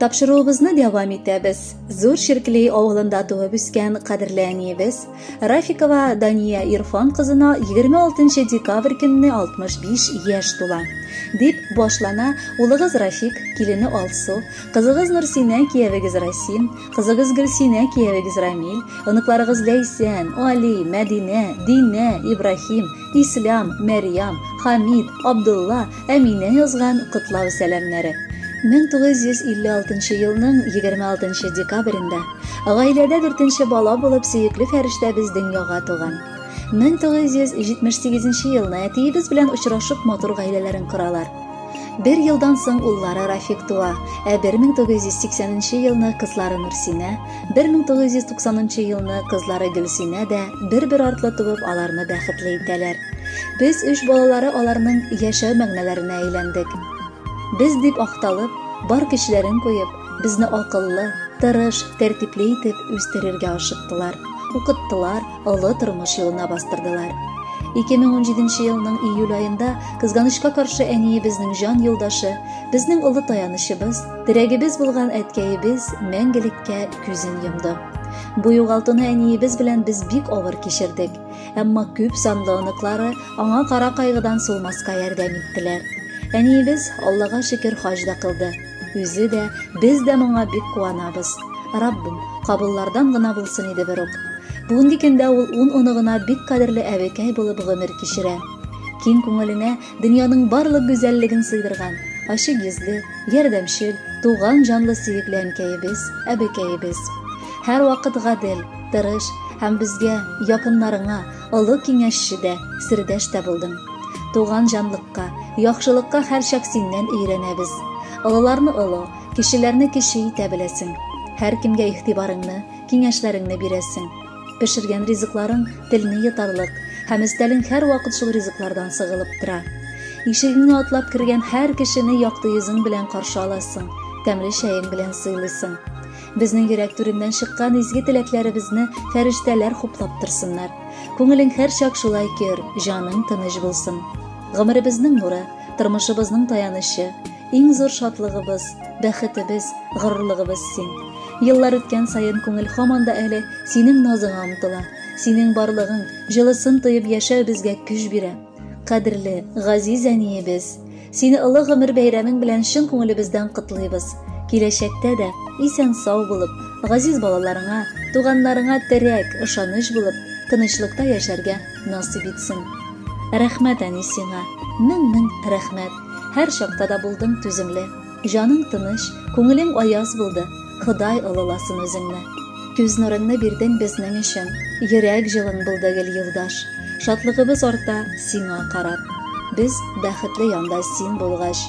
Тапшыруыбызны дәвам итәбез. Зур Ширклей авылында туып үскән кадерле әниебез Рафикова Дания Ирфан кызына 26 декабрь көнне 65 яшь тула. Дип башлана улыгыз Рафик, килене Алсу, кызыгыз Нурсинә, киявегез Расим, кызыгыз Гөлсинә, киявегез Рамил, оныкларыгыз Ләйсән, Али, Мәдинә, Динә, Ибрахим, Ислам, Мәрьям, Хамид, Абдулла, Әминә язган котлау сәламнәре. 1956 елның 26 декабрендә гаиләдә дүртенче бала булып сөекле фәрештәбез дөньяга туган. 1978 елны әтиебез белән очрашып матур гаиләләрен коралар. Бер елдан соң уллары Рафик туа, ә 1980 елны кызлары Нурсинә, 1990 елны кызлары Гөлсинә дә бер-бер артлы туып аларны бәхетле итәләр. Без үч балалары аларның яшәү мәгънәләренә әйләндек. Без дип акталып, бар көчләрен куеп, безне акыллы, тырыш, тәртипле итеп үстерергә ашыктылар, укыттылар, олы тормыш юлына бастырдылар. 2017 елның июль аенда кызганычка каршы әниебезнең җан юлдашы, безнең олы таянычыбыз, терәгебез булган әткәебез мәңгелеккә күзен йомды. Бу югалтуны әниебез белән без бик авыр кичердек. Әмма күп санлы оныклары аңа кара кайгыдан сулмаска ярдәм иттеләр. Әниебез Аллага шөкер хаҗ да кылды. Үзе дә, без дә моңа бик куанабыз. Раббым, кабыллардан гына булсын иде бер үк. Бүгенге көндә ул ун оныгына бик кадерле әбекәй булып гомер кичерә. Киң күңеленә дөньяның барлык гүзәллеген сыйдырган, ачык йөзле, ярдәмчел, туган җанлы сөекле әнкәебез, әбекәебез. Һәрвакыт гадел, тырыш һәм безгә, якыннарыңа, олы киңәшче дә, сердәш тә булдың. Туган җанлыкка, яхшылыкка һәрчак синнән өйрәнәбез. Олыларны олы, кешеләрне кече итә беләсең. Һәркемгә игътибарыңны, киңәшләреңне бирәсең. Пешергән ризыкларың телне йотарлык, һәм өстәлең һәрвакыт шул ризыклардан сыгылып тора. Ишегеңне атлап кергән һәр кешене якты йөзең белән каршы аласың, тәмле чәең белән сыйлыйсың. Безнең йөрәк түреннән чыккан изге теләкләребезне фәрештәләр хуплап торсыннар. Күңелең һәрчак шулай көр, җаның тыныч булсын. Гомеребезнең нуры, тормышыбызның таянычы, Иң зур шатлыгыбыз, бәхетебез, горурлыгыбыз син. Еллар үткән саен күңел һаман да әле синең назыңа омтыла. Синең барлыгың, җылысын тоеп яшәү безгә көч бирә. Кадерле, газиз әниебез, сине олы гомер бәйрәмең белән чын күңелебездән котлыйбыз. Киләчәктә дә исән сау булып, газиз балаларыңа, туганнарыңа терәк, ышаныч булып, тынычлыкта яшәргә насыйп итсен. Рәхмәт, әни, сиңа. Мең-мең рәхмәт. Һәр чакта да булдың түземле. Җаның тыныч, күңелең аяз булды. Ходай олыласын үзеңне. Күз нурыңны бирдең безнең өчен. Йөрәк җылың булды гел юлдаш. Шатлыгыбыз арта сиңа карап. Без бәхетле янда син булгач.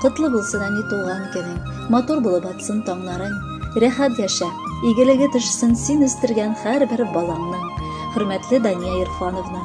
Котлы булсын, әни, туган көнең. Матур булып атсын таңнарың. Рәхәт яшә, игелеге төшсен син үстергән һәрбер балаңның. Хөрмәтле Дания Ирфановна!